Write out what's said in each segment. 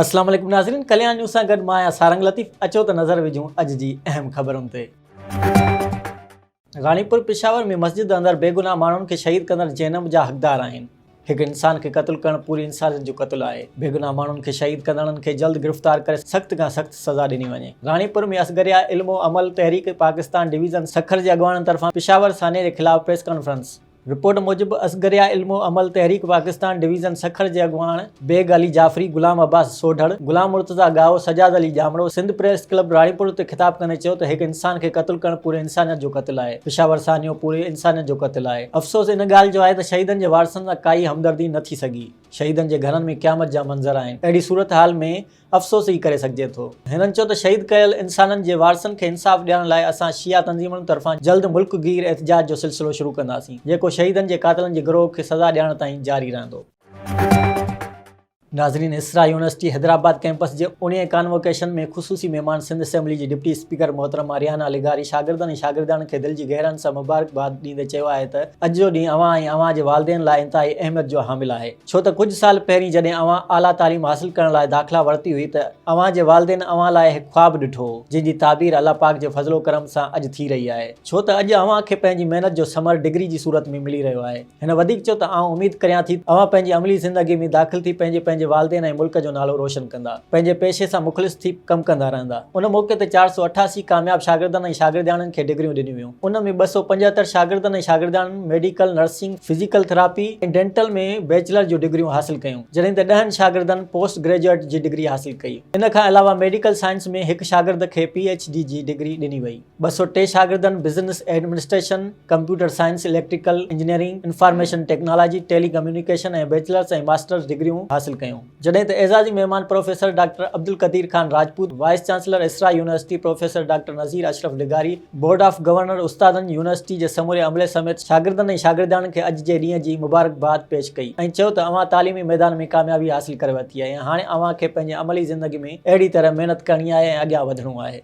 اسلام عليڪم ناظرين ڪليان نيوز سان گڏ مان آهيان سارنگ لطيف اچو ته نظر وجهون اڄ جي اهم خبرن تي غانيپور پشاور ۾ مسجد اندر بيگناهه ماڻهن کي شهيد ڪندڙ جهنم جا حقدار آهن هڪ انسان کي قتل ڪرڻ پوري انسانيت جو قتل آهي، بيگناهه ماڻهن کي شهيد ڪندڙن کي جلد گرفتار ڪري سخت کان سخت سزا ڏني وڃي. راڻيپور ۾ اصغريا علم و عمل تحريڪ پاڪستان ڊويزن سکر جي اڳواڻن طرفان پشاور سانحي جي خلاف پريس ڪانفرنس. رپورٽ موجب اصغريا علم و عمل تحريڪ پاڪستان ڊويزن سکر جي اڳواڻ، بيگ علي جعفري، غلام عباس سوڍڙ، غلام مرتضيٰ ڳاهو، سجاد علي ڄامڙو سنڌ پريس ڪلب راڻيپور تي خطاب ڪندي چيو ته هڪ انسان کي قتل ڪرڻ پوري انسانيت جو قتل آهي، پشاور سانحو پوري انسانيت جو قتل آهي، افسوس ان ڳالهه جو آهي ته شهيدن جي وارثن سان ڪائي همدردي نه ٿي سگهي، شهيدن جي گهرن ۾ قيامت جا منظر آهن، اهڙي صورتحال ۾ افسوس ئي ڪري سگهجي ٿو. هنن چيو ته شهيد ڪيل انسانن جي وارثن کي انصاف ڏيارڻ لاء اسان شيعا تنظيمن طرفان جلد ملڪ گير احتجاج جو سلسلو شروع ڪنداسين، جيڪو شهيدن جي قاتلن جي گروهه کي سزا ڏيارڻ تائين جاري رهندو. ناظرين اسرا يونيورسٽي حيدرآباد ڪيمپس جي اڻيهين ڪانووڪيشن ۾ خصوصي مهمان سنڌ اسيمبلي جي ڊپٽي اسپيڪر محترمه ريحانه لغاري شاگردن ۽ شاگردياڻين کي دل جي گهرائين سان مبارڪباد ڏيندي چيو آهي ته اڄ جو ڏينهن اوهان ۽ اوهان جي والدين لاء انتهائي اهميت جو حامل آهي ڇو ته ڪجهه سال پهرين جڏهن اوهان اعليٰ تعليم حاصل ڪرڻ لاء داخلا ورتي هئي ته اوهان جي والدين اوهان لاء هڪ خواب ڏٺو هو جنهن جي تعبير الله پاڪ جي فضل و ڪرم سان اڄ ٿي رهي آهي ڇو ته اڄ اوهان کي پنهنجي محنت جو ثمر ڊگري جي صورت ۾ ملي رهيو آهي. هن وڌيڪ چيو ته آئون اميد ڪريان ٿي ته اوهان پنهنجي عملي زندگي ۾ داخل ٿي پنهنجي پنهنجي والدين ۽ ملڪ جو نالو روشن ڪندا پنهنجي پيشي سان مخلص ٿي ڪم ڪندا رهندا ان موقعي تي چار سؤ اٺاسي ڪامياب شاگردن ۽ شاگردياڻين کي ڊگريون ڏنيون ويون ان ۾ ٻه سؤ پنجهتر شاگردن ۽ شاگردياڻين medical nursing physical therapy ۽ dental ۾ bachelor جون ڊگريون حاصل ڪيون جڏهن ته ڏهن شاگردن پوسٽ گريجوئيٽ جي ڊگري حاصل ڪئي ان کان علاوه ميڊيڪل سائنس ۾ هڪ شاگرد کي پي ايڇ ڊي جي ڊگري ڏني وئي. ٻه سؤ ٽي شاگردن business administration, computer science, electrical engineering, information technology, telecommunication ۽ bachelors ۽ masters ڊگريون حاصل ڪيون، جڏهن ته اعزازي مهمان professor doctor Abdul Qadeer Khan Rajput, vice chancellor Isra university professor doctor Nazir Ashraf لغاري، بورڊ آف گورنر استادن، يونيورسٽي جي سموري عملي سميت شاگردن ۽ شاگردياڻين کي اڄ جي ڏينهن جي مبارڪباد پيش ڪئي ۽ چيو ته اوهان تعليمي ميدان ۾ ڪاميابي حاصل ڪري ورتي آهي ۽ هاڻي اوهان کي پنهنجي عملي زندگي ۾ اهڙي طرح محنت ڪرڻي آهي ۽ اڳيان وڌڻو آهي.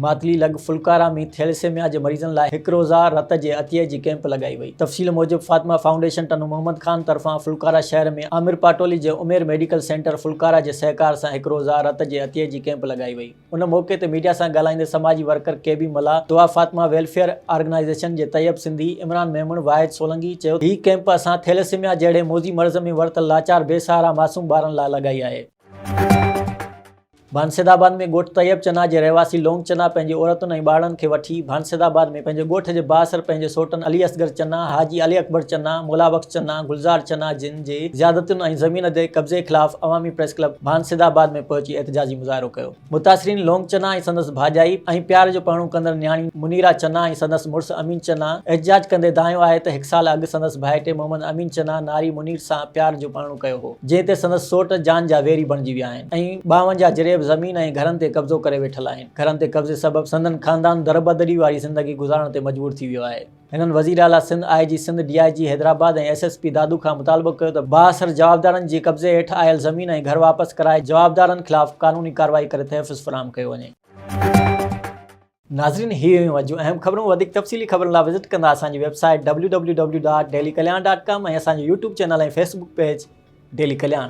ماتلي لڳ ڦلڪارا ۾ ٿيليسيميا جي مريضن لاء هڪ روزه رت جي عطيي جي ڪئمپ لڳائي وئي. تفصيل موجب فاطمه فائونڊيشن ٽنو محمد خان طرفان ڦلڪارا شهر ۾ عامر پاٽولي جي عمير ميڊيڪل سينٽر ڦلڪارا جي سهڪار سان هڪ روزه رت جي عطيي جي ڪئمپ لڳائي وئي. ان موقعي تي ميڊيا سان ڳالهائيندي سماجي ورڪر ڪي بي ملاح، دعا فاطمه ويلفيئر آرگنائيزيشن جي طيب سنڌي، عمران ميمڻ، واحد سولنگي چيو ته هي ڪئمپ اسان ٿيليسيميا جهڙي موذي مرض ۾ ورتل لاچار بي سهارا معصوم ٻارن لاء لڳائي آهي. ڀانسيد آباد ۾ ڳوٺ طيب چنا جي رهواسي لونگ چنا پنهنجي عورتن ۽ ٻارڙن کي وٺي ڀانسيد آباد ۾ پنهنجي ڳوٺ جي بااثر پنهنجي سوٽن علي اصغر چنا، حاجي علي اڪبر چنا، مولا بخش چنا، گلزار چنا جن جي زيادتين ۽ زمين تي قبضي خلاف عوامي پريس ڪلب ڀانسيد آباد ۾ پهچي احتجاجي مظاهرو ڪيو. متاثرين لونگ چنا ۽ سندس ڀاڄائي ۽ پيار جو پرڻو ڪندڙ نياڻي منيرا چنا ۽ سندس مڙس امين چنا احتجاج ڪندي دانهيو آهي ته هڪ سال اڳ سندس ڀائٽي محمد امين چنا ناري منير سان پيار جو پرڻو ڪيو هو جنهن تي سندس سوٽ جان جا ويري بڻجي ويا آهن. ۽ ٻاونجاهه جريب زمين ۽ گهرن تي قبضو ڪري ويٺل آهن، گهرن تي قبضي سبب سندن خاندان دربدري واري زندگي گذارڻ تي مجبور ٿي ويو آهي. هنن وزير اعليٰ Sindh, I G Sindh, D I G Hyderabad ۽ S S P Dadu کان مطالبو ڪيو ته بااثر جوابدارن جي قبضي هيٺ آيل زمين ۽ گهر واپس ڪرائي جوابدارن خلاف قانوني ڪارروائي ڪري تحفظ فراهم ڪيو وڃي. ناظرين هي هيون اڄ جون اهم خبرون وڌيڪ تفصيلي خبرن لا وزٽ ڪندا اسان جي website W W W dot daily Kalyan dot com ۽ اسان جو YouTube channel ۽ Facebook page daily ڪلياڻ.